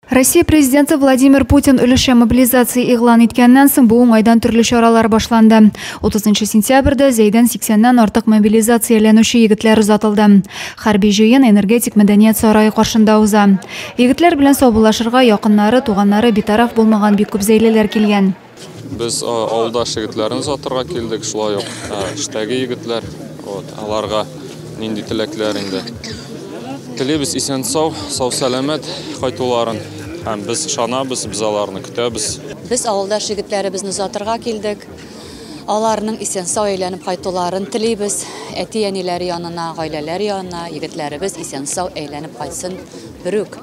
Россия президенты Владимир Путин өлешчә мобилизация игълан иткәннән соң бу уңайдан төрле чаралар башланды. 30 сентябрьдә Зәйдән 80-нән артык мобилизацияләнүче егетләр озатылды. Хәрби җыен энергетик мәдәният сарае каршында уза. Егетләр белән саубуллашырга якыннары, туганнары битараф булмаган бик күп зәйлеләр килгән. Без авылдаш егетләрне озатырга килдек, шулай ук эштәге егетләр, вот, аларга нинди теләкләр инде. Телибез исән-сау, сау-сәламәт кайтуларын һәм без ышанабыз, без аларны көтәбез. Без авылдаш егетләребезне озатырга килдек. Аларның исән-сау әйләнеп кайтуларын телибез. Әти-әниләре янына, гаиләләре янына егетләребез исән-сау әйләнеп кайтсын, берүк.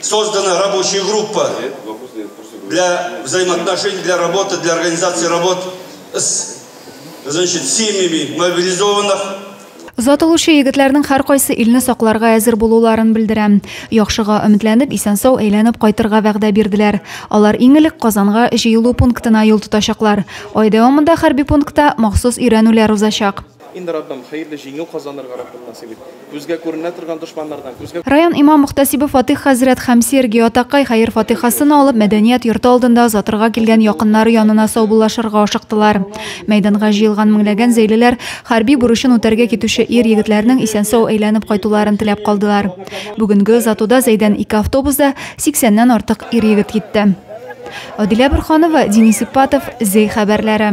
Создана рабочая группа для взаимоотношений, для работы, для организации работ с значит, семьями мобилизованных. Зат алучы егетләрнең һәркайсы илне сакларга әзер булуларын белдерә. Яхшыга өметләнеп, исән-сау әйләнеп кайтырга вәгъдә бирделәр. Алар иң элек Казанга җыелу пунктына юл тотачаклар. Ай дәвамында хәрби пунктта махсус өйрәнүләр узачак. Инде Раббым, хәерле җиңү казанырга Раббым насыйп ит. Күзгә күренә торган дошманнардан, күзгә. Район имам Мөхтәсибе Фатыйх хәзрәт һәм Сергий атакай хәер-фатыйхасын алып, мәдәният йорты алдында озатырга килгән якыннары янына саубуллашырга ашыктылар. Мәйданга җыелган меңләгән зәйлеләр хәрби бурычын үтәргә китүче ир-егетләрнең исән-сау әйләнеп кайтуларын теләп калдылар. Бүгенге озатуда Зәйдән ике автобуста 80 нән артык ир-егет китте. Адилә Борханова, Денис Ипатов, Зәй хәбәрләре.